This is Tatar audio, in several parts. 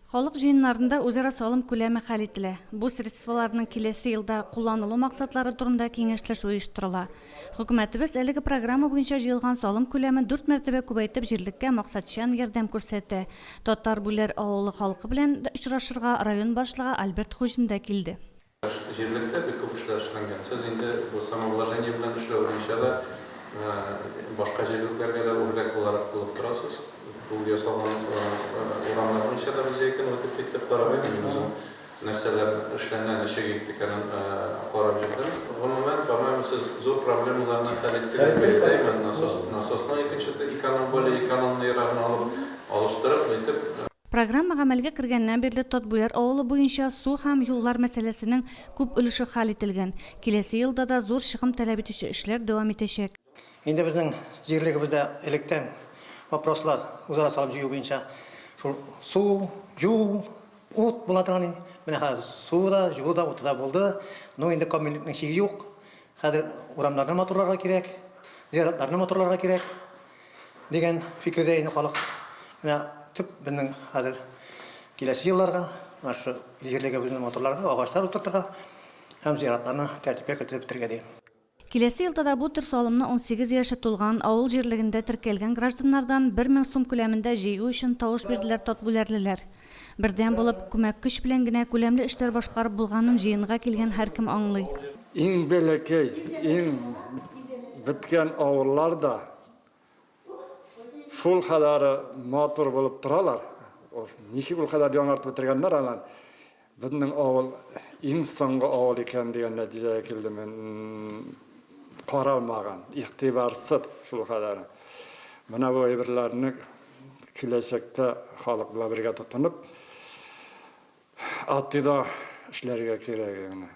Халык җыеннарында үзара салым күләме хәл ителә, бу средстволарның киләсе елда кулланылу максатлары турында киңәшләшү оештырыла. Хөкүмәтебез әлеге программа буенча җыелган салым күләмен дүрт мәртәбә күбәйтеп җирлеккә максатчан ярдәм күрсәтә. Татар Бүләр авылы халкы белән очрашырга район башлыгы Альберт Хуҗин да килде. Җирлектә бик күп эшләр эшләнгән. Сез инде бу самовложение белән эшләү буенча да башка җирлекләргә дә үрдәк буларак булып торасыз. Ул ясалган урамнар буенча да без яки үтеп киттек, карап йөрдем мин үзем. Нәрсәләр эшләнә, ничек итте икәнен карап йөрдем. Гомумән, по-моему, сез зур проблемаларны хәл иттегез дип уйлыйм. Насос, насосның икенче эконом, более экономныйрагын алып, алыштырып, нитеп. Программа гамәлгә кергәннән бирле Тотбүләр авылы буенча су һәм юллар мәсьәләсенең күп өлеше хәл ителгән. Киләсе елда да зур чыгым таләп итүче эшләр дәвам итәчәк. Инде безнең җирлегебездә электән вопрослар үзара салым җыю буенча шул су, юл, ут була торган иде. Менә хәзер суы да, җылуы да, уты да булды. Ну, инде камиллекнең чиге юк. Хәзер урамнарны матурларга кирәк, зиратларны матурларга кирәк. Дигән фикердә инде халык. Менә төп безнең хәзер киләсе елларга, менә шушы җирлегебезнең матурларга агачлар утыртырга һәм зиратларны тәртипкә кертеп бетергә ди. Киләсе елда да бу төр салымны унсигез яше тулган, авыл җирлегендә теркәлгән гражданнардан бер мең сум күләмендә җыю өчен тавыш бирделәр татгүләрлеләр. Бердәм булып, күмәк көч белән генә күләмле эшләр башкарып булганын җыенга килгән һәркем аңлый. Иң бәләкәй, иң беткән авыллар да шул кадәр матур булып торалар. Ничек ул кадәр яңартып бетергәннәр аны. Безнең авыл иң соңгы авыл икән дигән нәтиҗәгә килдем мин. Каралмаган, игътибарсыз шул кадәр. Менә бу әйберләрне киләчәктә халык белән бергә тотынып, АТИда эшләргә кирәк иде.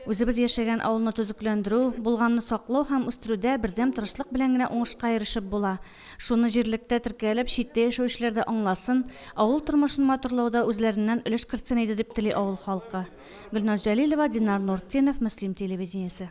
Үзебез яшәгән авылны төзекләндерү, булганны саклау һәм үстерүдә бердәм тырышлык белән генә уңышка ирешеп була. Шуны җирлектә теркәлеп, читтә яшәүчеләр дә аңласын, авыл тормышын матурлауда үзләреннән өлеш кертсен иде, дип тели авыл халкы. Гөлназ Җәлилова, Динар Нуртдинов, Мөслим телевидениесе.